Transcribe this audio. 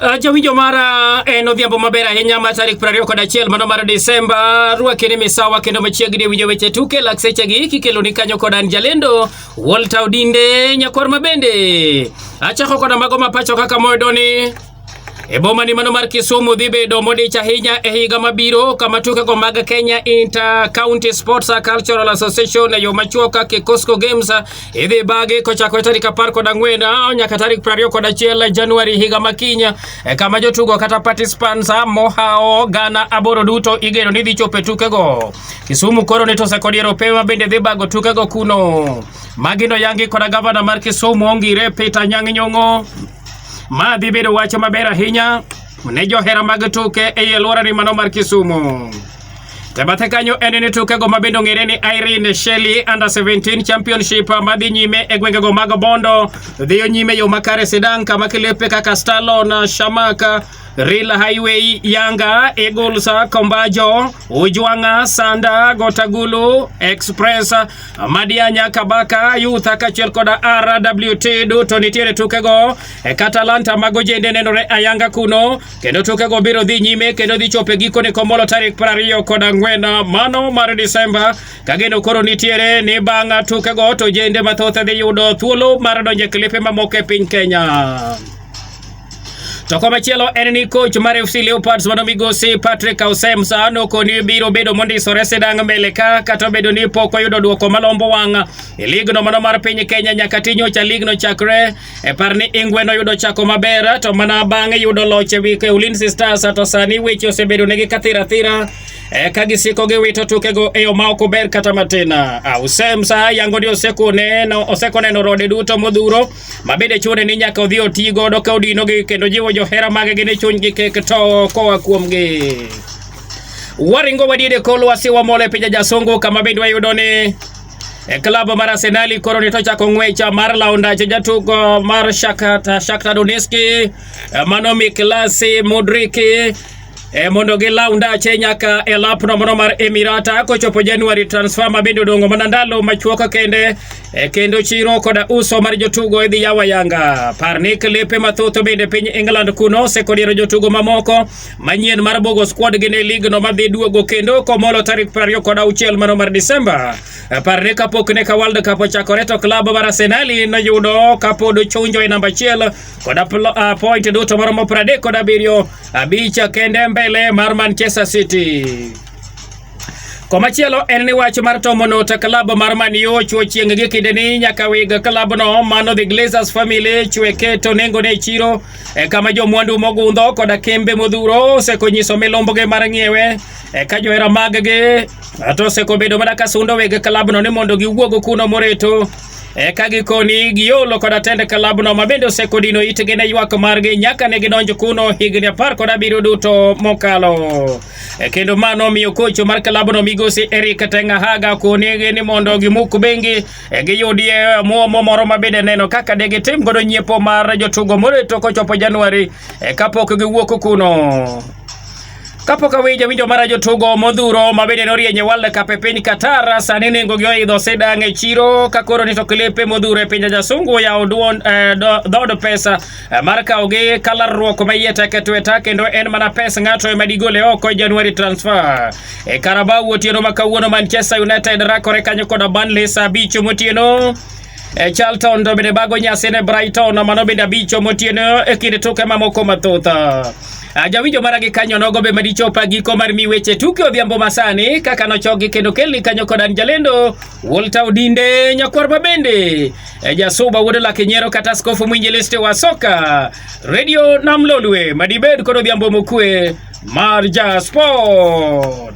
Ah, Jawinjo mara en odhiambo maber ahinya ma tarik prariyo kod achiel mano mar Desemba. Rwake ni misawa kendo machiegni e winjo weche tuke lak sechegi kikelo ni kanyo kod an jalendo Walter Odinde nyakwar ma bende achako koda mago ma pacho kaka moyudo ni e boma ni mano mar Kisumu dhi bedo modich ahinya e higa mabiro kama tukego mag Kenya Inter County Sports Cultural Association e yo machuok kaka Cosco Games Idhi bagi kochakore tarik apar kod ang'wen ah, nyaka tarik piero ariyo kod achiel Januari higa makinya e kama jotugo kata participants ah, mohawo gana aboro duto igeno ni dhi chopo e tukego. Kisumu koro ni tose kod Eropewa bende dhi bago tukego kuno. Magi noyangi koda gavana mar Kisumu Ongire Peter Nyang' Nyong'o. Ma dhi bedo wach maber ahinya ne johera mag tuke ei alworani mano mar Kisumu. E bathe kanyo en ni tukego ma bende ong'ere ni Irene Shelley Under 17 Championship ma dhi nyime e gwengego mag Bondo dhiyo nyime yo makare sidang' kama kilepe kaka Stalon, Shamaka Rail Highway, Yanga, Eagles, Kombajo, Ujwanga, Sanda, Gotagulu, Express, Madianya, Kabaka, Youth kachiel koda RWT duto nitiere tukego e Katalanta mago jende nenore ayanga kuno kendo tukego biro dhi nyime kendo dhi chopo e gikone Komolo tarik piero ariyo kod ang'wen mano mar Disemba ka geno koro nitiere ni bang' tukego to jende mathoth dhi yudo thuolo mar donjo e klipe mamoko e piny Kenya. To komachielo en ni coach mar FC Leopards mano migosi Patrick Ausemsa nokoni biro bedo mondisore sidang' mbele ka kata obedo ni pok oyudo dwoko malombo wang' e ligno mano mar piny Kenya nyaka tinyocha ligno chakre E par ni Ingwe noyudo chako maber to mana bang'e yudo loch e wi Ulinzi Stars to sani weche osebedo negi kathira thira e ka gisiko gi wito tukego e yo ma ok ober kata matin. Ausem sa yango ni osekone no osekone no rode duto modhuro ma bende chune ni nyaka odhi oti godo ka odino gi kendo jiwo johera mage gi ne chuny gi kek to koa kuom gi. Waringo wadide kolwa siwa mole pinja jasongo kama bende wayudo ni E klabu mar Arsenal koro ne to chako ng'wecha mar lawo ndache jatugo mar Shakhtar Donetsk e, mano Miklas Mudrik e mondo gilaw ndache nyaka e lapno mano mar Emirata kochopo Januari transfer ma bende odongo mana ndalo machuok kende e kendo chiro koda uso mar jotugo idhi yawa yanga par ni klipe mathoth bende piny England kuno osekodiero jotugo mamoko manyien mar Bogo Squad gin e ligno madhi duogo kendo komolo tarik prariyo kod auchiel mano mar Disemba. Parne kapok ne ka World Cup ochakore to klab mar Arsenal noyudo kapod ochunjo e namba achiel kod ah, point duto maromo pradek kod abiriyo abich kende mbele mar Manchester City. Komachielo en ni wach mar tomo not klab mar Man U ochuo chieng' gi kinde ni nyaka weg klabno mano The Glazers family chweke to nengo ne chiro E kama jomwandu mogundho koda kembe modhuro osekonyiso milombogi mar ng'iewe eka e johera maggi to osekobedo mana ka sundo weg kalabno ni mondo giwuog kuno moreto eka e gikoni giolo koda tend kalabno ma bende osekodino itgi ne ywak margi nyaka ne gidonj kuno higni apar kod abiriyo duto mokalo e kendo mano miyo kocho mar kalabno migosi Eric Tengahaga konegi ni mondo gimuk bengi e giyudie omuomo moro ma bende neno kaka de gitim godo nyiepo mar jotugo moreto kochopo Januari e kapok giwuok kuno. Kapok awinjo winjo mara jotugo modhuro ma bende norieny e World Cup e piny Qatar sani nengo gi oidho sidang' e chiro ka koro nito klipe modhuro e pinje jasungu oyawo duon eh, do- dhood pesa eh, mar kawo gi kalarruok ma iye tek e tweta kendo en mana pes ng'ato ema digole oko e January transfer. E Carabao otieno ma kawuono Manchester United rakore kanyo koda Burnley saa abich motieno. E Charlton to bende bago nyasi ne Brighton mano bende abich motieno e kind tuke mamoko mathoth. Ah, jawinjo mara gi kanyo nogo be madichopa giko mar mi weche tuke odhiambo masani kaka nochogi kendo kelni kanyo kod an jalendo Walter Odinde nyakwar ma bende e jasuba wuod lake nyero kata skofu mwinjilisti wa soka radio namlolwe madibed kod odhiambo mokue Marja Sport.